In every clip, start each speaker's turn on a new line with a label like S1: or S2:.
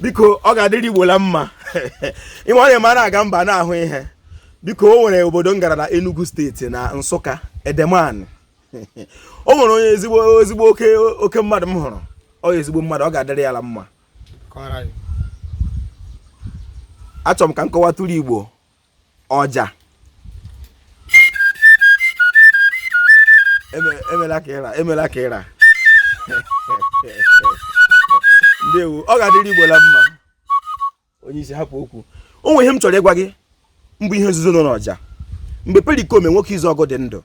S1: biko ọ ga-adịrị Igbo la mma ị ma onye na-aga mba na-ahụ ihe biko o nwere obodo m gara na Enugu steeti na Nsụka Edemani o nwere onye ezigbo ezigbo oke oke mmadụ m hụrụ ọ ezigbo mmadụ ọ ga-adịrị ya la mma achọrọ m ka m kọwatụrụ Igbo ọja Eme- emela ka ịra emela ka ịra ndewo ọ ga-adịrị igbo la mma onye isi hapụ okwu o nwe ihe m chọrọ ịgwa gị mbụ ihe nzuzo nọ n'ọja mgbe Perikoma nwoke Izuọgụ dị ndụ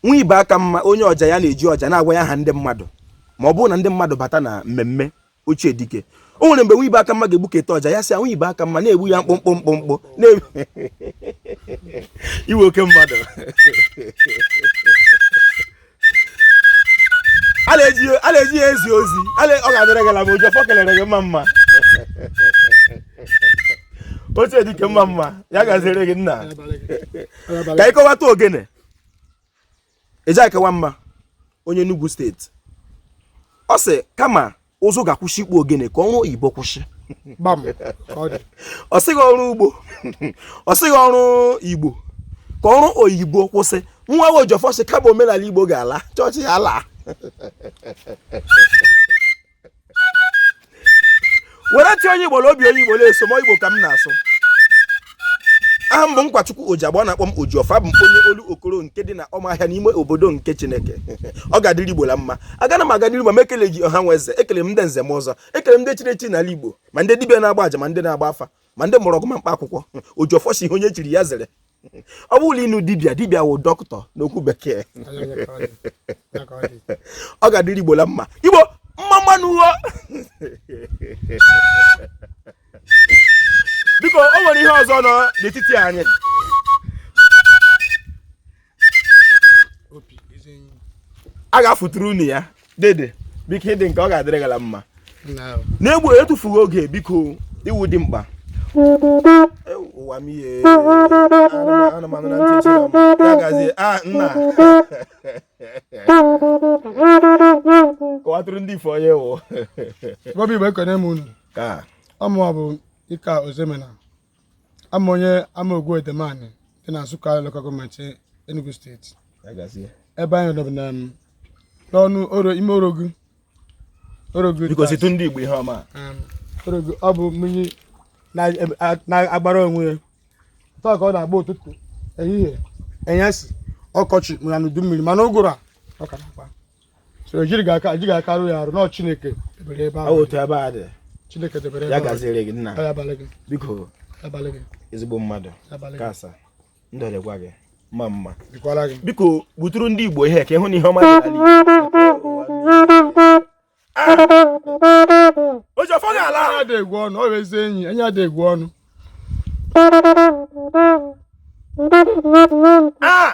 S1: nwa ibe aka mma onye ọja ya na-eji ọja na-agwa ya aha ndị mmadụ ma ọ bụrụ na ndị mmadụ bata na mmemme ochie dike o nwere mgbe nwa ibe aka mma ga-egbuketa ọja ya sị nwa ibe aka mma na-egbu ya mkpụmkpụ mkpụmkpụ iwe oke mmadụ a na-eji ya ezi ozi ọ ga-adịrị gị la mma Ojiọfọ kelere gị mma mma ochie dike mma mma ya gaziri gị nna ka ị kọwata ogene Ejike Nwamma onye Enugu steeti ọ sị kama ụzụ ga-akwụsị ịkpụ ogene ka ọrụ oyibo kwụsị ọ sịghị ọrụ ugbo ọ sịghị ọrụ igbo ka ọrụ oyibo kwụsị nwa Ojiọfọ sị kama omenala igbo ga-ala chọọchị ya laa were ti onye igbo la obi onye igbo la-eso m igbo ka m na-asụ aha m bụ Nkwachukwu Oji igbo na-akpọ m Ojiọfọ abụ m onye Olokoro nke dị na ọmahịa n'ime obodo nke chineke ọ ga-adịrị igbo la mma agana m aga n'iru ma m ekele gị ọha na eze ekele m ndị nze na ọzọ ekele m ndị chiri echi n'ala igbo ma ndị dibịa na-agba aja ma ndị na-agba afa ma ndị mgbọrọgwụ ma mkpa akwụkwọ Ojiọfọ sị ihe onye chiri ya zere ọ bụrụ ị nụ dibịa dibịa wụ dọkịta n'okwu bekee ọ ga-adịrị igbo la mma igbo mma mma nụ o biko o nwere ihe ọzọ nọ n'etiti anyị a ga-afụtụrụ unu ya dede biko ịdị nke ọ ga-adịrị gị la mma n'egbu etufughị oge biko iwu dị mkpa ụwa m ihe anụmanụ na ntị ya gazie a ah, nna kọwatụrụ ndị igbo onye ị wụ igbo igbo
S2: ekene m unu ka ọ
S1: mụwa bụ
S2: Ike Ọzọemena ama onye Amaogwu Edemani dị na Nsukka lokal gọọmenti Enugu steeti ebe anyị nọ na um, n'ọnụ ime orogu orogu ndị
S1: Igbo ihe ọma um,
S2: orogu ọ bụ mmiri na-agbara onwe ya taa ka ọ na-agba ụtụtụ ehihie enyesi ọkọchị ma n'udu mmiri ma n'ụgụrụ a ọ ka na-agba so ejighị aka ejighị aka arụ ya arụ na ọ chineke debere ebe ahụ otu ebe a
S1: dị chineke debere ebe
S2: ya gaziere gị nna ya
S1: abalị gị
S2: biko abalị gị
S1: ezigbo mmadụ kasa ndụ dịkwa gị mma mma biko
S2: buturu ndị igbo
S1: ihe ka ị hụ na ihe ọma oji ọfọ ga-ala adịgwu ọnụ ọ bụ
S2: ezi enyi enyi adịgwu ọnụ ah!